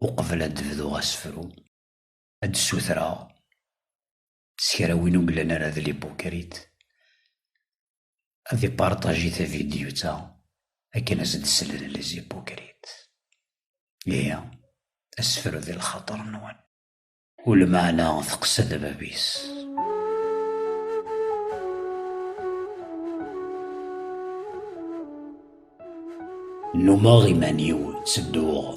Uqbel ad d-bduɣ asefru, ad d-ssutreɣ s kra win ur yellan ara d lipukrit, ad iparṭaji tavidyut-a akken ad s-d-slen lezipukrit. Ihi, asefru di lxaṭer-nwen. U lmeɛna teqsed bab-is. Nnumeɣ iman-iw ttedduɣ.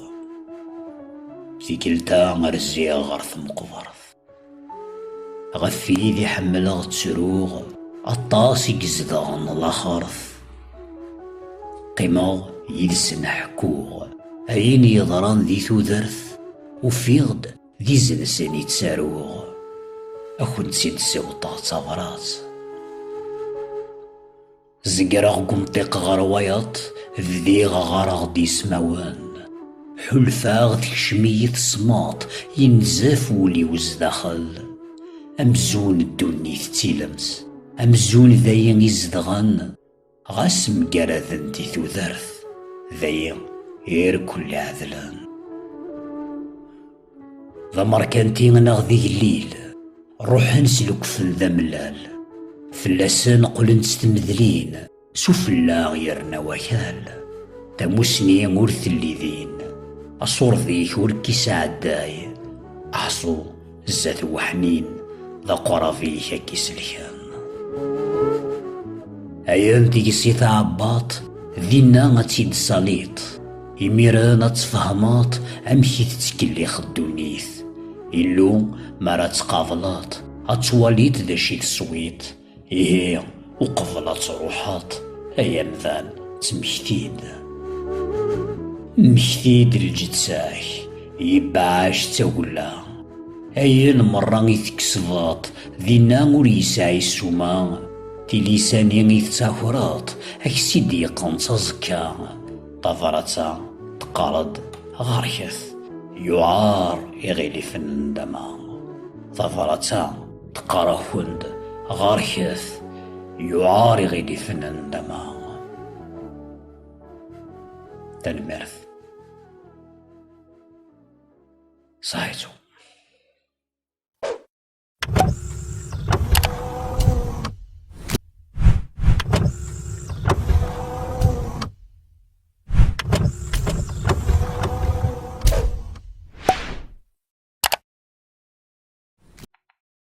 Tikkelt-a rziɣ ɣer tmeqbert. Ɣef tid i ḥemmleɣ ttruɣ. Aṭas i izedɣen laxert. Qqimeɣ yid-sen ḥekkuɣ. Ayen yeḍran di tudert. Ufiɣ-d d izensen i ttaruɣ, a kent-id-siwṭeɣ d tabrat. Zegreɣ deg umṭiq ɣer wayeḍ, bdiɣ ɣɣareɣ-d ismawen. Ḥulfaɣ tekcem-iyi tesmeṭ, yenzef wul-iw zdaxel. Amzun ddunit d tilemt, amzun dayi i zedɣen. Ɣas mgaraden di tudert, dayi irkul ɛedlen. D amerkanti neɣ d igellil, ruḥen s lekfen d amellal. Fell-asen qqlen s tmedlin, s ufellaɣ yerna wakal. Tamusni ur telli din, asurḍik ur k-isɛedday, aḥṣu Zat weḥnin d aqrab-ik ad k-iselken. Ayen deg-s i tɛebbaḍ, dinna ad tt-id-saliḍ. Imiren ad tfehmeḍ amek i tettkellix ddunit. Illu, mi ara tt-qableḍ, ad twaliḍ d acu i teswiḍ. Ihi uqbel ad truḥeḍ ay amdan ttmekti-d. Mmekti-d lǧeţ-ak, yebɛac d tagella. Ayen meṛṛa i tkesbeḍ dinna ur yesɛi ssuma, tilisa-nni i teţakreḍ a k-ţ-id-yeqqenţ aẓekka. Tabṛaţ-a teqqar-d, Ɣerket, yuɛeṛ iɣilifen n nndama. Tabṛaţ-a. Teqqar-akent ɣerket, yuɛar iɣilifen ndama. Tanemmirt. Saɛitu.